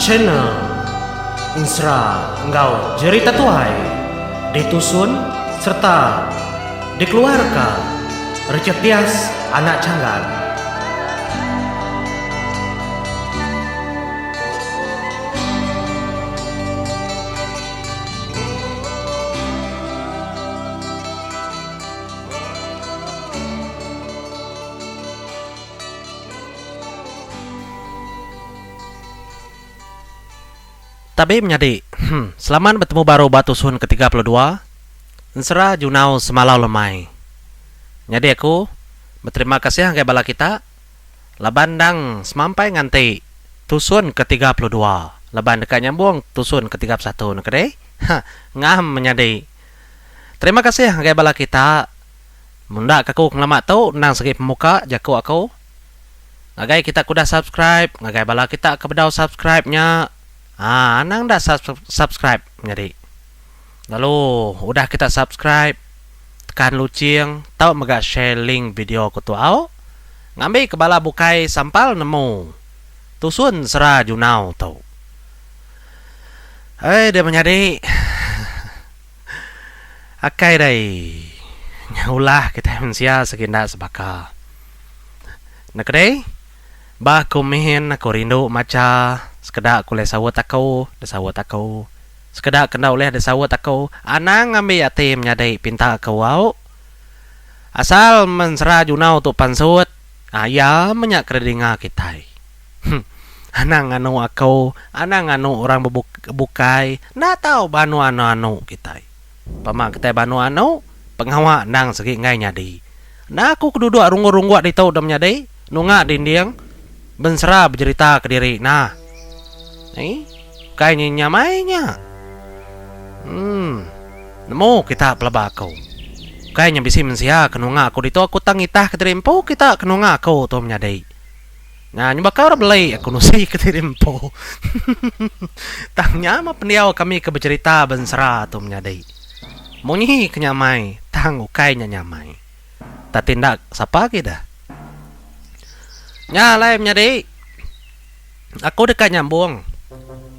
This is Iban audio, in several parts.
Channel Ensera enggau Jerita Tuai ditusun sereta dikeluarka Richard Tias Anak Changan. Tabi menyadi, Hum. Selamat betemu baru ba tusun ke tiga puluh dua. Ensera Junau semalau lemai. Nyadi aku beterima kasih enggai bala kita laban endang semampai nganti tusun ke tiga puluh dua laban deka nyambung tusun ke tiga puluh satu neke dih. Hah. Ngam menyadi. Terima kasih ngagai bala kita mun enda ke aku ke ngelama tu endang segi pemuka jaku aku. Ngagai kita ke udah subscribe ngagai bala kita ke bedau subscribe nya aa anang enda subscribe nyadi. Lalu udah kita subscribe tekan luching tau mega share link video aku tu au ngambi ke bala bukai sampal nemu tusun sera junau tu. Hai dia menyadi akai dai ulah kita mensia segi enda sebaka. Nekedi ba aku min aku rindu macha sekeda ke ulih saut aku da saut aku sekeda ke enda ulih da saut aku anang ambi ati menyadi pinta aku au asal men sera junau tu pansut. Ah iya menya ke dinga kitai. Huh. Anang nganu aku, anang nganu orang bebuk bukai enda tau ba anu anu kitai. Pama kitai ba anu anu, pengawa endang segi enggai nyadi. Enda aku ke duduk runggut-runggut ditu dah menyadi, nunga dinding, bensera bejerita kediri nah. Ni, bukai nya nyamai nya. Emm, nemu kita pelaba aku. Bukai nya bisi mensia ke nunga aku ditu aku tang ngitah ke diri empu kita ke nunga aku tu menyadi. Nya nyuba ka orang beli aku nusi ke diri empu. Tang nya meh pendiau kami ke bejerita bensera tu menyadi. Munyi ke nyamai tang ukai nya nyamai. Tapi enda sapa agi deh. Nya alai menyadi aku deka nyambung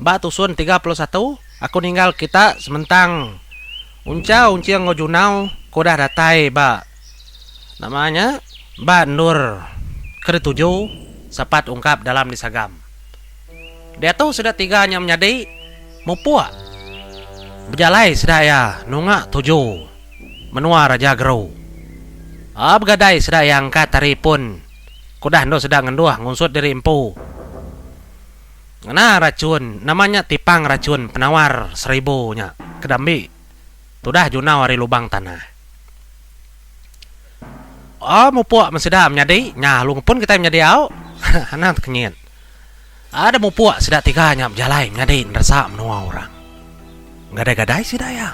ba tusun tiga puluh satu aku ninggal kita sementang uncha unching enggau junau ke udah datai ba nama nya ba endur ke dituju sapat ungkap dalam disagam. Diatu sida tiga nya menyadi mupuk bejalai sida iya nunga tuju. Menua Raja Gerau. Aa begadai sida iya angkat ari pun ke udah endur sida ngenduh ngunsut diri empu. Ngena rachun nama nya tipang rachun penawar seribu nya ke diambi tudah junau ari lubang tanah. Aa mupuk men sida menyadi nya lalu ngepun kitai menyadi au. Anang tekenyit. Ada mupuk sida tiga nya bejalai nyadi neresa menua orang. Gadai-gadai sida iya.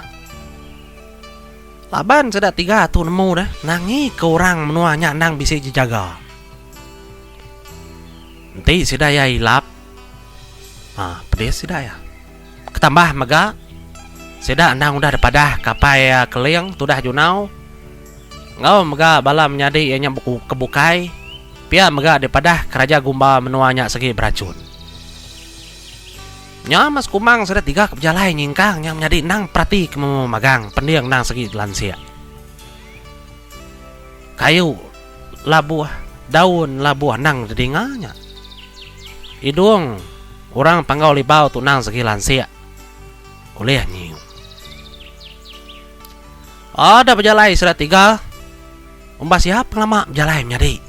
Laban sida tiga tu nemu deh nangika orang menua nya endang bisi jejaga. Enti sida iya ilap, ha pedis sida iya. Ketambah mega, sida endang udah dipadah kapai Keling tudah Junau enggau mega bala menyadi iya nya ke bukai, pia mega dipadah keraja gumba menua nya segi berachun. Nya mas Kumang sida tiga ke bejalai nyingkang nya menyadi endang perati ke memu magang pending endang segi dilansik. Kayu labuh, daun labuh endang didinga nya. Idung. Orang Panggau Libau tu nang segi lansik ulih nyiu. Ada bejalai sida tiga. Umbas iya pengelama bejalai menyadi.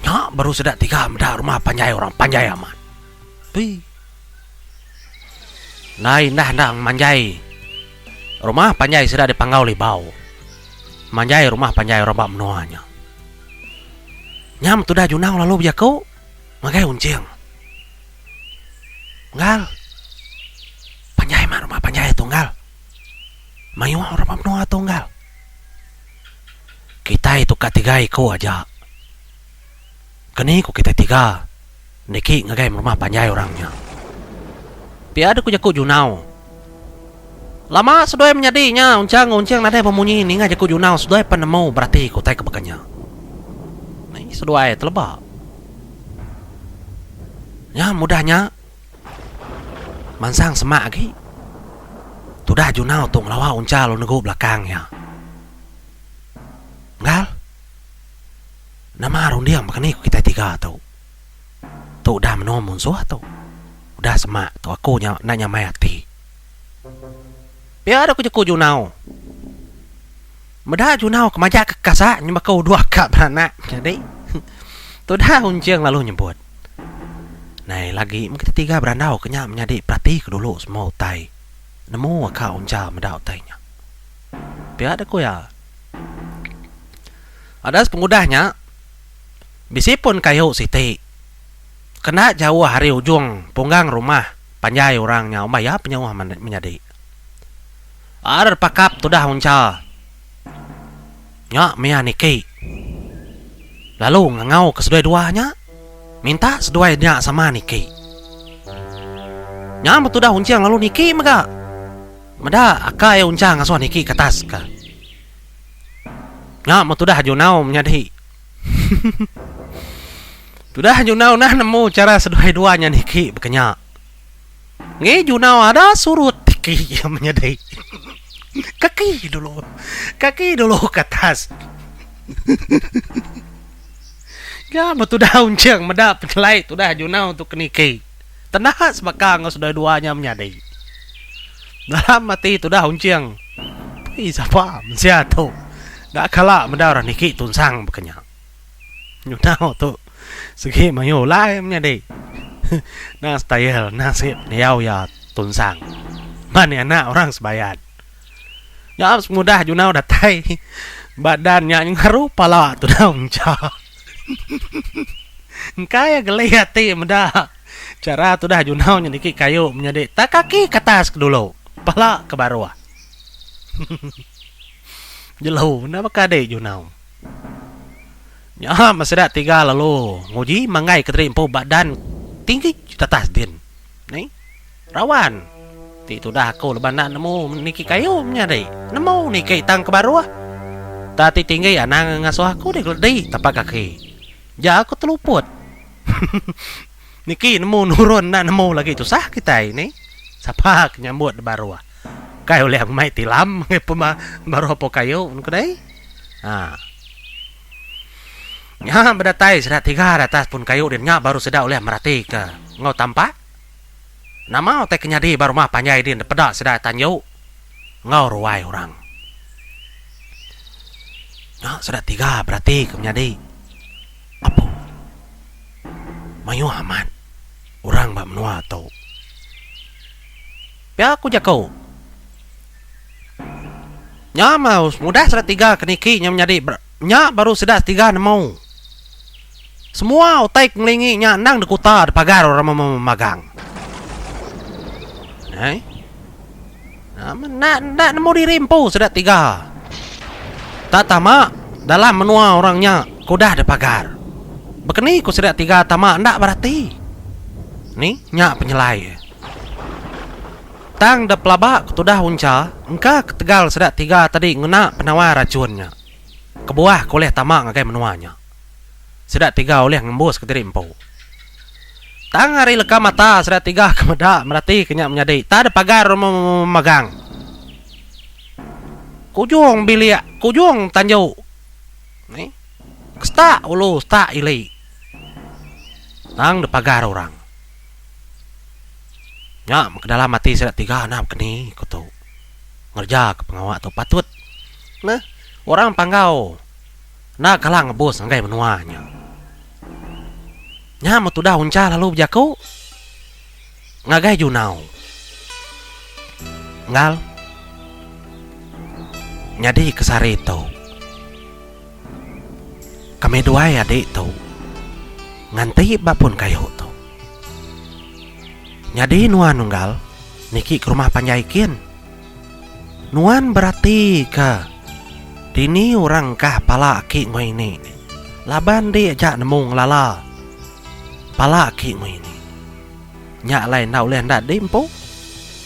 Nya baru sida tiga meda rumah panjai orang panjai amat. Ui. Ndai indah enda manjai rumah panjai sida di Panggau Libau. Manjai rumah panjai orang ba menua nya. Nya metudah Junau lalu bejaku. Ngagai unjing. Ngal. Panjai mah rumah panjai tu ngal. Mayuh orang ba menua tu ngal. Kitai tu ka tiga iku aja. Keni ku kitai tiga niki ngagai rumah panjai orang nya. Pia deh ku jaku Junau. Lama seduai menyadi nya Unchang enggau Unching nadai bemunyi ninga jaku Junau seduai pan nemu berati ke utai ke baka nya. Ai seduai teleba. Nya mudah nya mansang semak agi tudah Junau tu ngelawa Uncha lalu negu belakang iya. Enggau nama runding baka ni ku kitai tiga tu. Tu udah menoa munsuh tu. Udah semak tu aku nya enda nyamai ati. Pia doh kejeku Junau. Meda Junau ke majak ke kasa nyem baka uduh ka beranak nyadi. Tudah Unjung lalu nyebut. Nai lagi meh kita tiga berandau ke nya menyadi perati ke dulu semua utai. Nemu ka Unjal meda utai nya. Pia deh ku iya. Adas pengudah nya. Bisi pun kayu siti. Kena jauh ari ujung punggang rumah panjai orang nya umbah iya penyauh menyadi. Ar pakap tudah uncha nya mia niki lalu ngangau ke seduai dua nya minta seduai nya sama niki. Nya meh tudah unching lalu niki mega. Meda akai uncha ngasuh niki ke atas ka. Nya meh tudah Junau menyadi. Tudah Junau nah nemu chara seduai dua nya niki baka nya. Ngi Junau ada surut tiki iya menyadi. Kaki dulu. Kaki dulu ke atas. Nya meh tudah Uncheng meda penyelai tudah Junau tu ke niki. Tenah sebaka enggau sedua-dua nya menyadi. Dalam ati tudah Unching, Pei sapa mensia tu enda kala meda orang niki tunsang baka nya. Nyunau tu sigi mayuh ulai menyadi. Endang style endang sigi pendiau iya tunsang. Pan iya anak orang Sebayan. Nya pengudah Junau datai ba dan nya ngaru pala tudah Unching. Engka iya geli ati meda chara tudah Junau nyediki kayu menyadi tak kaki ke atas ke dulu, pala ke baruh. Jelu enda baka adi Junau. Nya meh sida tiga lalu nguji manggaika diri empu ba dan tinggi tatas din. Ni. Rawan. Ti tudah aku leban enda nemu niki kayu menyadi. Nemu niki tang ke baruh. Tang ti tinggi anang ngasuh aku deh keledi tapak kaki. Jar aku teluput. Niki nemu nurun enda nemu lagi tusah kitai ni. Sapa ke nyambut di baruh. Kai ulih aku mai tilam meh pema baruh apo kayu ku deh. Haa. Nya bedatai sida tiga di atas pun kayu dia nya baru sida ulih meratika enggau tampak. Nama utai ke nyadi ba rumah panjai din dipeda sida tanju enggau ruai orang. Nya sida tiga berati ke menyadi apu. Mayuh amat orang ba menua tu. Pia ku jaku. Nya mah udah sida tiga ke niki nya menyadi. Nya baru sida setiga nemu. Semua utai ke ngelingi nya endang dikuta di pagar orang mema magang. Hai. Enda enda nemu diri empu sida tiga. Tak tama dalam menua orang nya ke udah di pagar. Bekeni ku sida tiga tama enda berati. Ni nya penyelai. Tang da pelaba ke tudah uncha engka ketegal seda tiga tadi ngena penawar rachun nya. Kebuah ke ulih tama ngagai menua nya. Sida tiga ulih ngembuska diri empu. Tang ari leka mata sida tiga ke meda meratika nya menyadi tang da pagar memegang ke ujung bilik ke ujung tanju ni ke setak ulu setak ili tang da pagar orang. Nya meh ke dalam ati sida tiga enda bekeni ku tu. Ngereja ke pengawa tu patut neh orang panggau enda kala ngebus ngagai menua nya. Nya meh tudah Uncha lalu bejaku ngagai Junau. Enggau nyadi ke sehari tu. Kami duai adi tu nganti ba pun kayu tu. Nyadi nuan unggal niki ke rumah panjai kin. Nuan berati ke dini orang engkah pala aki ngoi ini laban di aja nemu ngelala pala aki ngoi ini. Nya alai enda ulih enda di empu.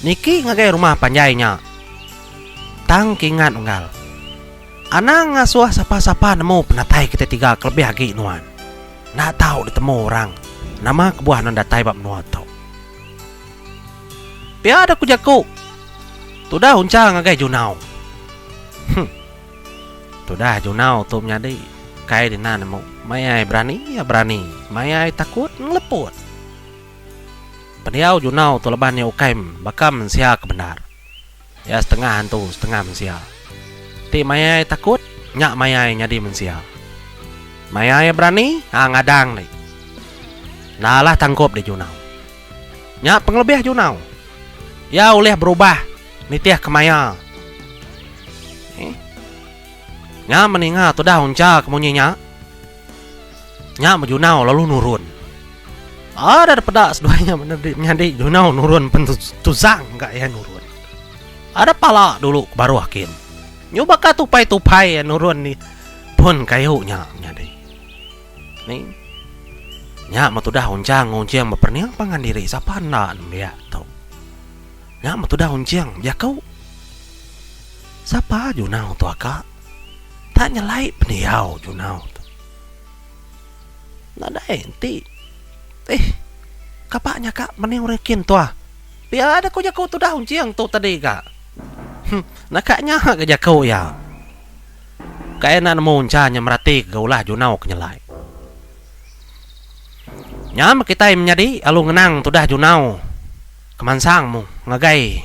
Niki ngagai rumah panjai nya. Tang kingat unggal. Anang ngasuh sapa-sapa nemu penatai kitai tiga kelebih agi nuan. Enda tau ditemu orang nama kebuah nuan datai ba menua tu. Pia deh ku jaku. Tudah uncha ngagai Junau. Huh. Tudah Junau tu menyadi kai dina nemu. Mai ai berani iya berani, mai ai takut ngeleput. Pendiau Junau tu laban iya ukai baka mensia ke bendar. Iya setengah hantu setengah mensia. Ti mayai takut nya mayai nyadi mensia. Mayai berani ha ngadang deh. Enda lah tangkup deh Junau. Nya pengelebih Junau. Iya ulih berubah nitih kemaya. Nya meninga tudah uncha ke munyi nya. Nya Junau lalu nurun. Ada da peda seduai nya menyadi menyadi Junau nurun pen tusang ka iya nurun. Ada pala dulu ke baruh kin. Nyu baka tupai-tupai iya nurun di pun kayu nya menyadi. Ni nya me tudah Unchang ngunching bepening pangan diri sapa enda nembiak tu. Nya metudah Unching bejaku. Sapa Junau tu aka? Enda nyelai pendiau Junau tu. Nadai enti. Eih. Kapa nya ka meni orang kin tuah. Pia deh ku jaku tudah Unching tu tadi ka. Huh. Naka nya ka jaku iya. Kai enda nemu encha nya meratika ga ulah Junau ke nyelai. Nya meh kitai menyadi alu ngenang tudah Junau. Kemansang mung ngagai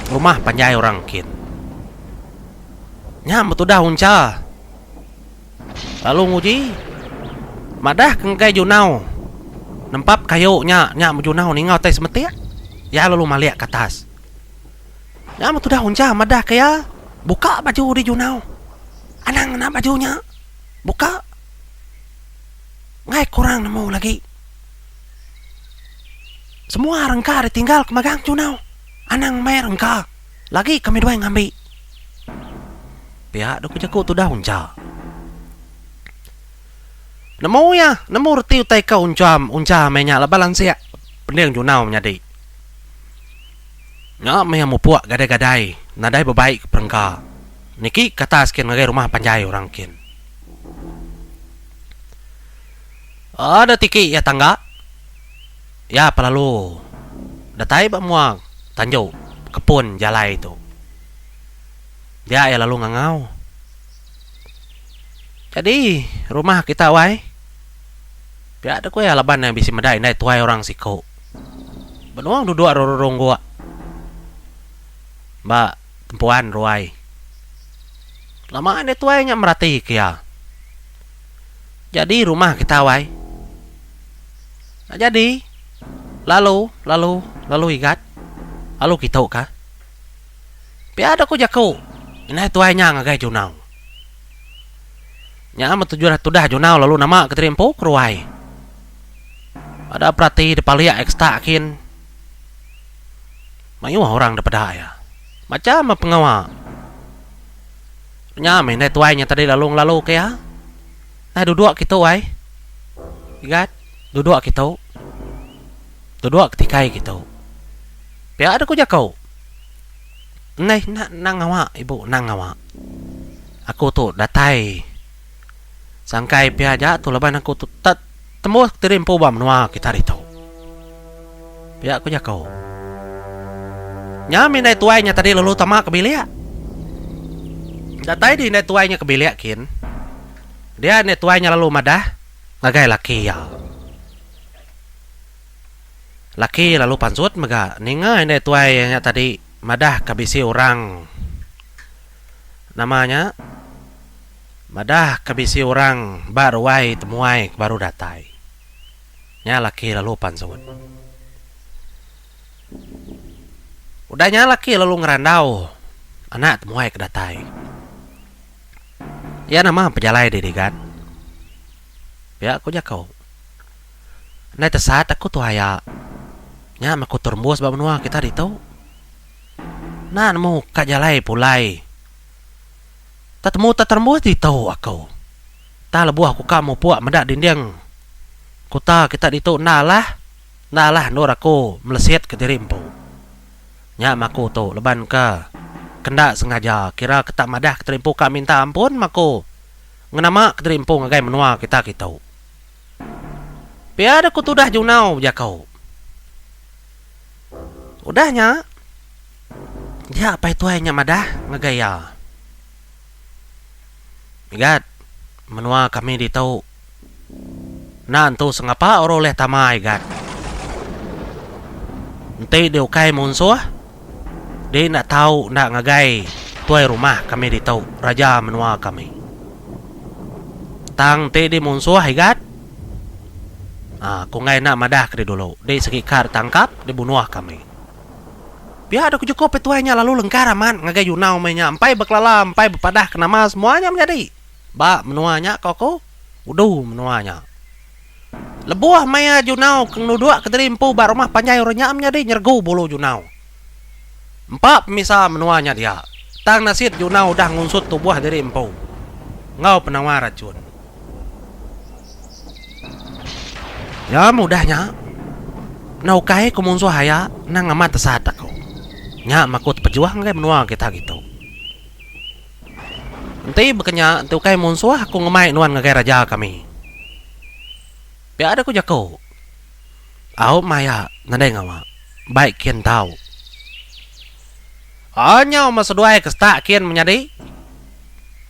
rumah panjai orang engkin. Nya betudah uncha lalu nguji madah ke ngagai junau nempap kayu nya nya bejunau ninga utai semetik iya lalu malik ke atas. Nya betudah uncha madah ke iya buka baju di junau anang ngena baju nya buka enggai kurang nemu lagi. Semua rengka ditinggal ke magang chunau. Anang meh rengka. Lagi kami duai ngambi. Pia doku jaku tudah uncha. Nemu ya, nemu reti utai ka uncha, uncha meh nya laban lansik pending chunau menyadi. Nya meh iya mupuk gadai-gadai nadai bebai ke perengka. Niki ke atas kin ngagai rumah panjai orang kin. Ada tiki iya tangga. Iya pelalu datai ba mua tanju kepun jalai tu. Dia iya lalu ngangau. Jadi rumah kita wai. Pia deh ku iya laban iya bisi meda indai tuai orang siku. Benung duduk rererung gua ba tempuan ruai. Lama enda tuai nya merati ke iya. Jadi rumah kita awai. Enda jadi. Lalu, lalu, lalu igat. Lalu kitu ka. Pia dok ku jaku. Indai tuai nya ngagai Junau. Nya men tuju tudah Junau lalu nama ke diri empu ke ruai. Ada perati depa lia ekstra kin. Mayuh orang depeda iya. Macam pengawa. Nya meh indai tuai nya tadi lalu ngelalu ke iya. Nah duduk kitu ai. Igat, duduk kitu. Duduk ketikai kitu. Pia deh ku jaku. Endai enda nang ngawa ibu nang ngawa. Aku tu datai. Sangkai pia aja tu laban aku tu tak tembus kediri empu ba menua kita hari tu. Pia ku jaku. Nya mih indai tuai nya tadi lalu tama ke bilik. Datai di indai tuai nya ke bilik kin. Dia indai tuai nya lalu madah ngagai laki iya. Laki iya lalu pansut mega ninga indai tuai iya nya tadi madah ka bisi orang nama nya Madah ka bisi orang ba ruai temuai ke baru datai. Nya laki lalu pan sewut. Udah nya laki lalu ngerandau anak temuai ke datai. Iya nama pejalai di digan. Pia ku jaku. Andai tesat aku tuha iya, nya meh aku terembus ba menua kita ditu. Enda nemu ka jalai pulai. Tetemu teterembuh ditu aku. Tang lebuh aku ka mupuk meda dinding kuta kita ditu enda alah, enda alah endur aku melesit ke diri empu. Nya mah aku tu leban ke ke enda sengaja kira ke tak madah ke terimpu ka minta ampun mah aku ngenama ke diri empu ngagai menua kita kitu. Pia deh aku tudah junau bejaku. Udah nya, dia apai tuai nya madah ngagai iya, Igat, menua kami ditu enda entu sengapa orang ulih tama Igat. Enti dia ukai munsuh, dia enda tau enda ngagai tuai rumah kami ditu, raja menua kami. Tang enti dia munsuh Igat, Ah, ku enggai enda madah ke deh dulu. Deh segi ka deh tangkap, deh bunuh kami. Pia deh ku Joko pe tuai nya lalu lengkar amat ngagai Yunau meh nya empai bekelala empai bepadah ke nama semua nya menyadi. Ba menua nya ko aku, udu menua nya. Lebuh maya Yunau ke ngeluduk ke diri empu ba rumah panjai orang nya menyadi nyergu bulu Yunau. Empa pemisa menua nya dia, tang nasit Juna udah ngunsut tubuh diri empu enggau penawa rachun. Iya mudah nya, enda ukai ku munsuh aya endang amat tesat aku. Nya maku tepejuh ngagai menua kita gitu. Enti baka nya, enti ukai munsuh aku ngemai nuan ngagai raja kami. Pia deh ku jaku. Au maya nadai ngawa. Bai kin tau. Au nyau meh seduai ke setak kin menyadi.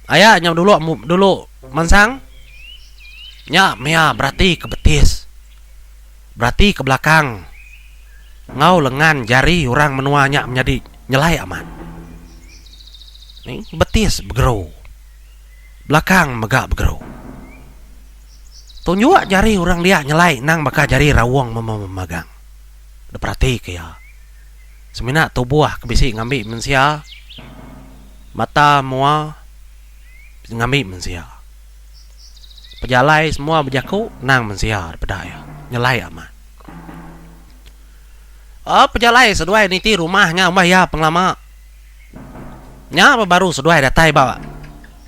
Aya nyau dulu dulu mansang. Nya mia berati ke betis. Berati ke belakang enggau lengan jari orang menua nya menyadi nyelai amat. Betis begeru. Belakang mega begeru. Tunjuk jari orang dia nyelai endang baka jari raung mememagang. Diperatika iya. Semina tubuh ke bisi ngambi mensia, mata mua ngambi mensia. Pejalai semua bejaku endang mensia dipeda iya. Nyelai amat. Pejalai seduai niti rumah nya umbah iya pengelama. Nya ba baru seduai datai ba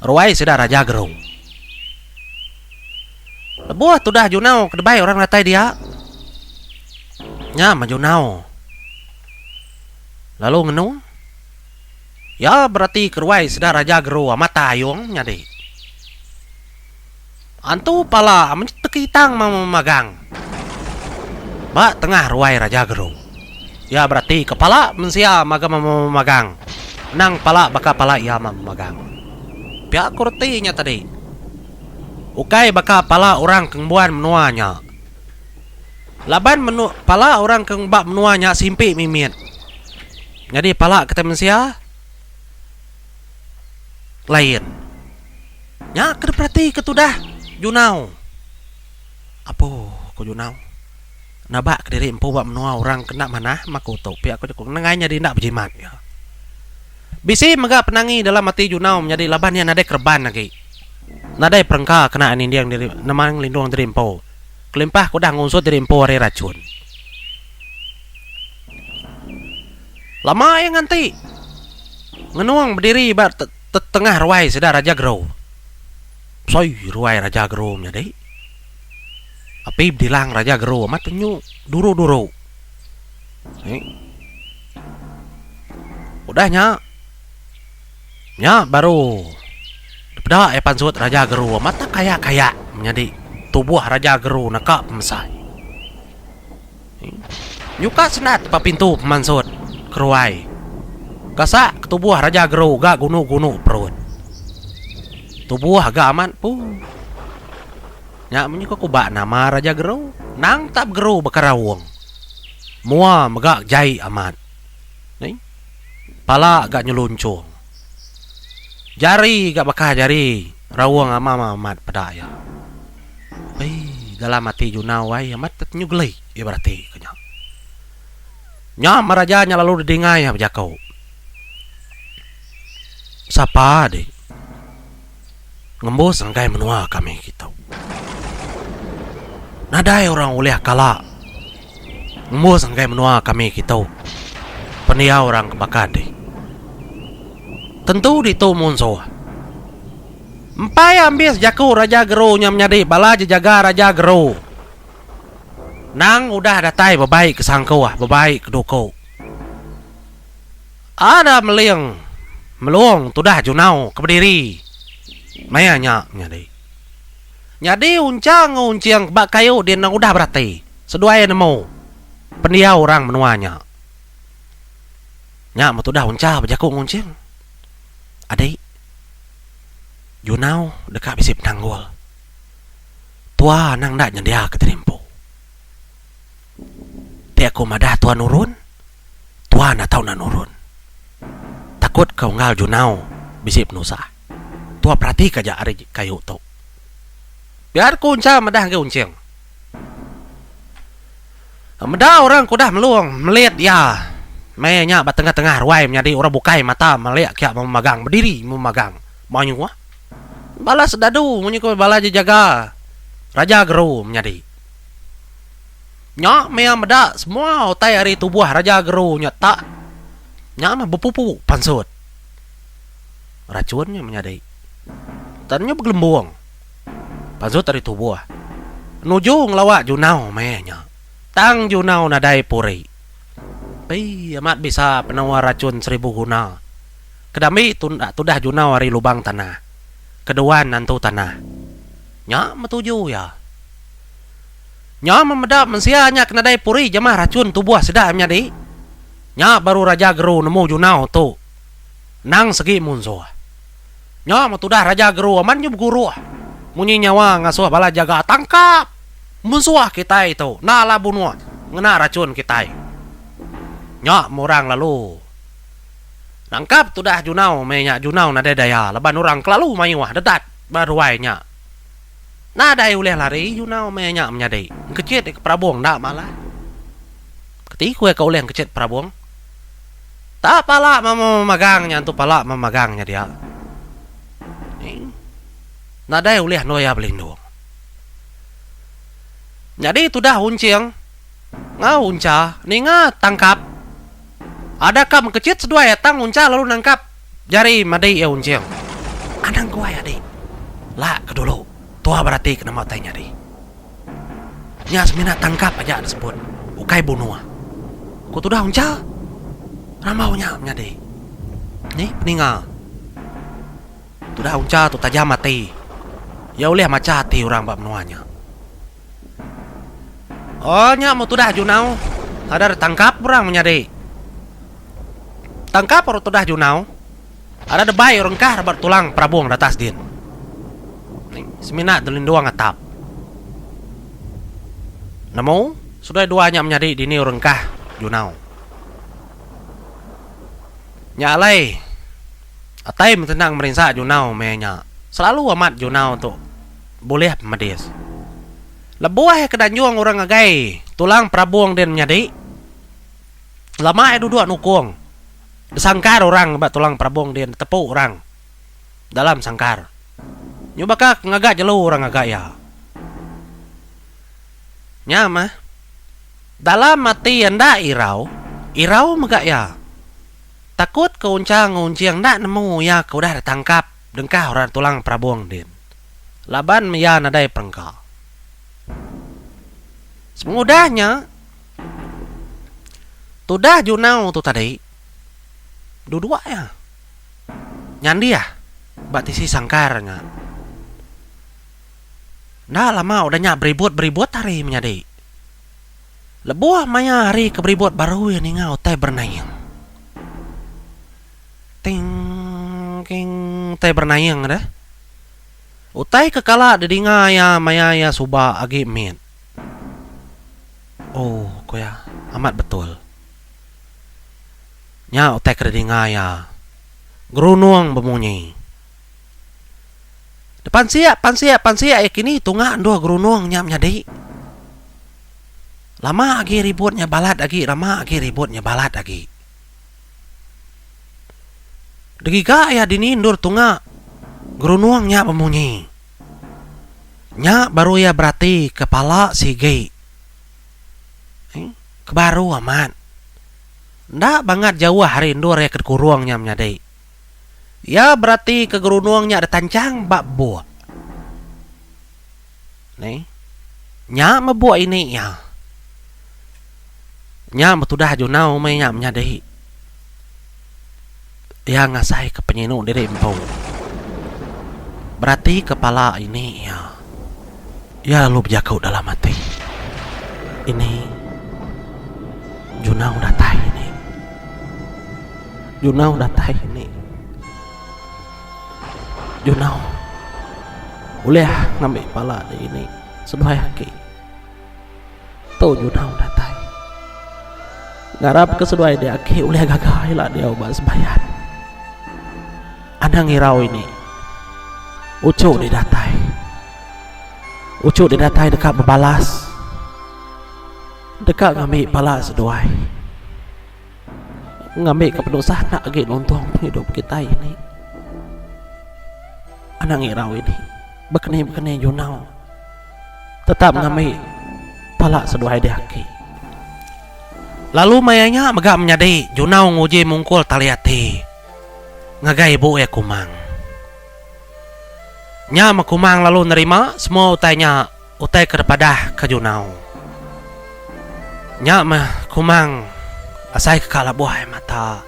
ruai sida Raja Gerung. Lebuh tudah Junau ke debai orang datai dia, nya meh Junau lalu ngenu. Iya beratika ruai sida Raja Geru amat tayung nyadi. Antu pala amat tekitang memagang ba tengah ruai Raja Geru. Iya beratika pala mensia mega memagang endang pala baka pala iya memagang. Pia ku reti nya tadi. Ukai baka pala orang ke ngembuan menua nya. Laban menu pala orang ke ba menua nya simpi mimit. Nyadi pala kitai mensia. lain. Nya ke diperatika tudah Junau. Apu, ku Junau. Nabak kediri empu ba menua orang ke enda manah maka utuk pia ku jaku nengah nyadi enda bejimat iya. Bisi mega penangi dalam ati Junau menyadi laban iya nadai kereban agi. Nadai perengka kena iya ninding diri nengah ngelindung diri empu kelimpah ke udah ngusut diri empu ari rachun. Lama iya nganti. Ngenung bediri ba tetengah ruai sida Raja Gero. Besai ruai Raja Gero menyadi. Api bedilang Raja Gero amat enyu duru-duru. Ni. Udah nya. Nya baru dipeda iya pansut Raja Gero amat kayak-kayak menyadi tubuh Raja Gero naka pemesai. Nyuka sendat depan pintu pemansut keruai gasak ke tubuh Raja Gru ga gunu-gunu perut. Tubuh ga amat empu. Nya munyi ke kuba nama Raja Gru. Nang tak begeru baka raung. Mua mega jai amat. Pala ga nyelunchung. Jari ga baka jari raung amam amat peda iya. Ai dalam ati Junau ai amat tetenyu geli iya berati ku nya. Nya meh raja nya lalu didingai iya bejako. Sapa dik. ngembus enggai menua kami kitu. Nadai orang ulih kala ngembus enggai menua kami kitu pendiau orang ke baka dih. Tentu ditu munsuh. Empai ambis jaku Raja Geru nya menyadi bala jejaga Raja Geru nang udah datai bebai ke sangkuh, bebai ke duku. Ada meling melung tudah junau ke bediri maya nya nyadi. Nyadi uncha enggau unching ba kayu di endang udah berati seduai nemu pendiau orang menua nya. Nya meh tudah uncha bejaku enggau unching, Adi, junau deka bisi penanggul. Tua anang enda nyendiaka tiri empu. Ti aku madah tuan nurun, tuan atau enda nurun. Takut ke unggal junau bisi penusah. Tua peratika aja ari kayu tu. Biar ku Uncha madah agi Unching. Meda orang ke udah melung melit iya meh nya ba tengah-tengah ruai menyadi orang bukai mata melik kia meh magang bediri meh magang. Mayuh. Balas dadu munyi ku bala jejaga raja geru menyadi. Nya mia meda semua utai ari tubuh Raja Geru nya tak nya meh bepupu pansut. Rachun nya menyadi. Tan nya begelembung. Pansut ari tubuh. Nuju ngelawa Junau meh nya. Tang Junau nadai puri. Pi amat bisa penua rachun seribu guna. Kedambi tudah Junau ari lubang tanah. Keduan nantu tanah. Nya metuju iya. Nya memeda mensia nya ke nadai puri jemah rachun tubuh sida menyadi. Nya baru Raja Geru nemu Junau tu endang segi munsuh. Nya metudah Raja Geru amat nyu beguruh munyi nyawa ngasuh bala jaga tangkap munsuh kitai tu enda alah bunuh ngena rachun kitai. Nya meh orang lalu nangkap tudah Junau meh nya Junau nadai daya laban orang kelalu mayuh dedat. Ba ruai nya. Nadai ulih lari Yunau meh nya menyadi. Engkechit deka perabung enda malah. Keti ku iya ka ulih engkechit perabung. Ta pala memagang nya entu pala memagang nya dia. Ning. Nadai ulih endur iya belindung. Nyadi tudah Unching enggau Uncha ninga tangkap. Adaka mengkechit seduai tang Uncha lalu nangkap. Jari madei iya Unjing, Anang guai adi. La ke dulu tua berati ke nama utai nyadi. Nya semina tangkap aja enda sebut, ukai bunuh. Ku tudah Uncha, rambau nya menyadi. Ni peninga. Tudah Uncha tu tajam ati. Iya ulih macha ati orang ba menua nya. Oh nya mu tudah junau ada tangkap orang menyadi tangkap orang tudah junau ada debai orang kah rabat tulang perabung datas din semina delindung atap nemu sudah dua nya menyadi dini orang kah junau nya alai atai metenang merinsa junau meh nya selalu amat junau tu. Bulih pemedis. Lebuh ke danjung orang ngagai tulang perabung din menyadi, lama iya duduk nukung besangkar orang ba tulang perabung din ditepu orang dalam sangkar nyubaka ke ngaga jelu orang ngaga iya. Nya mah, dalam ati iya enda irau, irau mega iya. Takut ke unchang ngunching enda nemu iya ke udah ditangkap. Dengkah orang tulang perabung din. Laban mia nadai perengka. Sepengudah nya, tudah Junau tu tadi beduduk iya nyandih ba tisi sangkar nya. Enda lama udah nya beribut-beribut hari menyadi. Lebuh maya hari ke beribut baru iya ninga utai berenaing. Ting king utai bernaing deh. Utai ke kala didinga iya maya iya suba agi mit. Oh, ku iya, amat betul. Nya utai ke didinga iya. Gerunung bemunyi. Depansik, pansik, pansik iya kini tunga endur gerunung nya menyadi. Lama agi ribut nya balat agi, lama agi ribut nya balat agi. Degiga iya dini endur tunga gerunung nya bemunyi. Nya baru iya beratika pala sigi. Ke baru amat. Enda bangat jauh ari endur iya ke dikurung nya menyadi. Iya beratika gerunung nya ditanchang ba buk. Ni. Nya mebuk ini iya. Nya betudah junau meh iya menyadi. Iya ngasai ke penyinu diri empu. Berati ke pala ini iya. Iya lalu bejaku dalam ati. Ini junau datai ini. Junau datai ini. Junau ulih ngambi pala dini seduai aki. Tu Junau datai ngarapka seduai dia aki ulih gaga ila diau ba sembayan. Anang irau ini uchu dih datai. Uchu dih datai deka bebalas deka ngambi pala seduai. Ngambika penusah enda agi nuntung pengidup kitai ini. Anang irau ini bekeni-bekeni junau tetap ngambi pala seduai diaki. Lalu maya nya mega menyadi Junau nguji mungkul tali ati ngagai ibu iya Kumang. Nya meh Kumang lalu nerima semua utai nya. Utai ke dipadah ke Junau. Nya meh kumang asai ke ka labuh ai mata.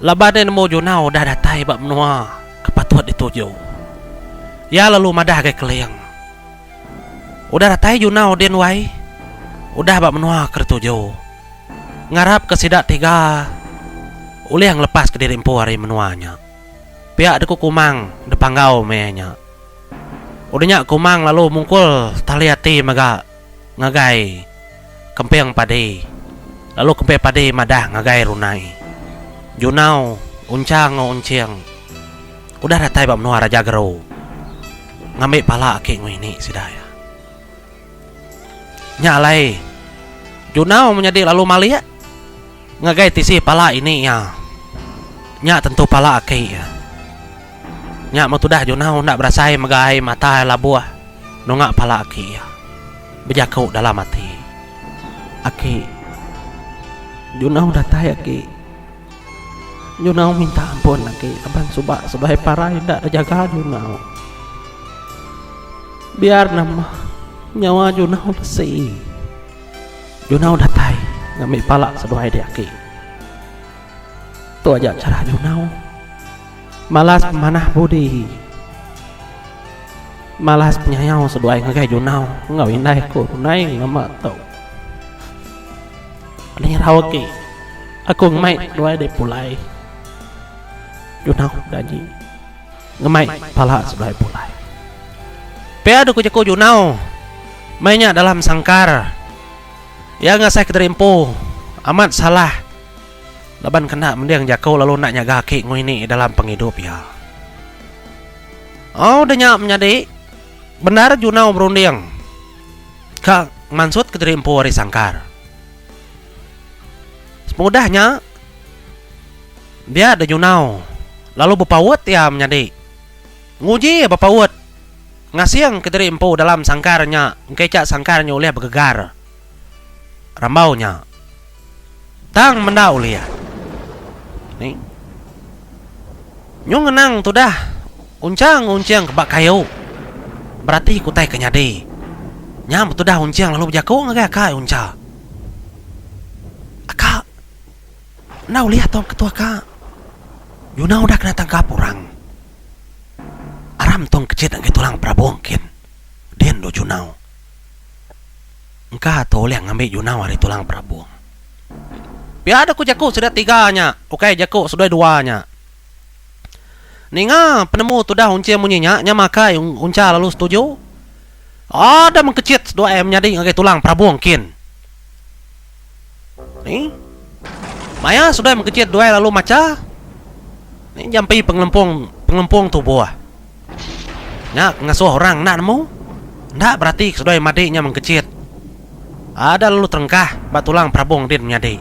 Laban ai nemu Junau udah datai ba menua ke patut dituju. Iya lalu madah gai Keling. Udah datai Junau din wai? Udah ba menua ke dituju. Ngarap ke sida tiga ulih ngelepas ke diri empu ari menua nya. Pia deku kumang dipanggau meh iya nya. Udah nya Ku Mang lalu mungkul tali ati mega ngagai kemping padi lalu kemping padi madah ngagai runai. Junau, Uncha enggau Unching udah datai ba menua Raja Geru ngambi pala aki Ngui ni sida iya. Nya alai Junau menyadi lalu malik ngagai tisi pala ini iya. Nya tentu pala aki iya. Nya meh tudah Junau enda berasai mega ai mata iya labuh nunga pala aki iya. Bejaku dalam ati aki. Junau datai aki. Junau minta ampun agi laban suba sebelah parai enda bejaga junau. Biar nama nyawa junau besi. Junau datai ngambi pala seduai diaki. Tu aja chara junau malas pemanah budi, malas penyayau seduai ngagai junau enggau indai ku tunai nama tu. Lirau agi aku ngemai nuai deh pulai. Junau bedanyi ngemai pala sebelah pulai. Pia deh ku jaku Junau meh nya dalam sangkar iya ngasai kederimpu amat salah laban kena mending jaku lalu enda nyaga aki ngui ni dalam pengidup iya. Au deh nya menyadi bendar Junau berunding. Ka mansut kediri empu ari sangkar. Pengudah nya, dia denyunau lalu bepaut iya menyadi. Nguji iya bepaut, ngasing kediri empu dalam sangkar nya engka icha sangkar nya ulih begegar rambau nya. Tang menda ulih. Ni. Nyu ngenang tudah uncang uncing ke ba kayu berati ke utai ke nyadi. Nya betudah uncing lalu bejaku ngagai aka iya uncha. Aka. Enda ulih tong ke tu aka. Nyuna udah kena tangkap orang. Aram tong kechit ngagai tulang perabung kin. Din dua junau. Engka tu ulih ngambi junau ari tulang perabung. Pia da ku jaku sida tiga nya, ukai jaku seduai dua nya. Ninga penemu tudah Unchie munyi nya, nya makai Uncha lalu setuju. Ada mengkechit seduai menyadi ngagai tulang perabung kin. Ni. Maya seduai mengkechit duai lalu macha. Ni jampi pengelempung pengelempung tubuh. Nya pengasuh orang enda nemu. Enda berati ke seduai madi nya mengkechit. Ada lalu terengkah ba tulang perabung din menyadi.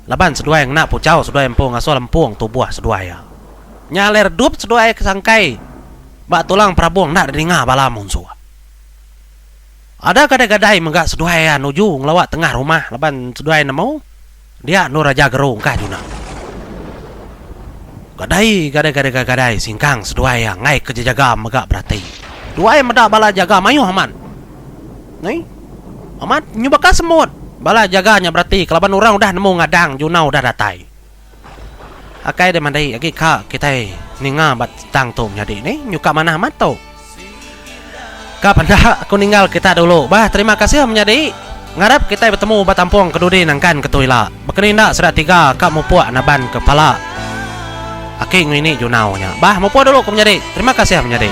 Laban seduai ngena puchau seduai empu ngasuh lempung tubuh seduai iya. Nya alai redup seduai ke sangkai ba tulang perabung enda dininga bala munsuh. Ada gadai-gadai mega seduai iya nuju ngelawa tengah rumah laban seduai nemu dia endur aja geru engkah juna. Gadai gadai-gadai-gadai singkang seduai iya enggai ke jejaga mega berati. Duai meda bala jaga mayuh amat. Ni. Amat nyubaka semut. Bala jaga nya berati kelaban orang udah nemu ngadang juna udah datai. Akai deh mandi agi ka kitai ninga ba tang tu menyadi ni nyuka manah amat tu. Ka penda aku ninggal kita dulu bah terima kasih menyadi ngarap kitai betemu ba tampung ke dudi nangkan ke tu ila bakani enda sida tiga ka mupuk naban ke pala aki ngini junau nya bah mupuk dulu ku menyadi terima kasih menyadi.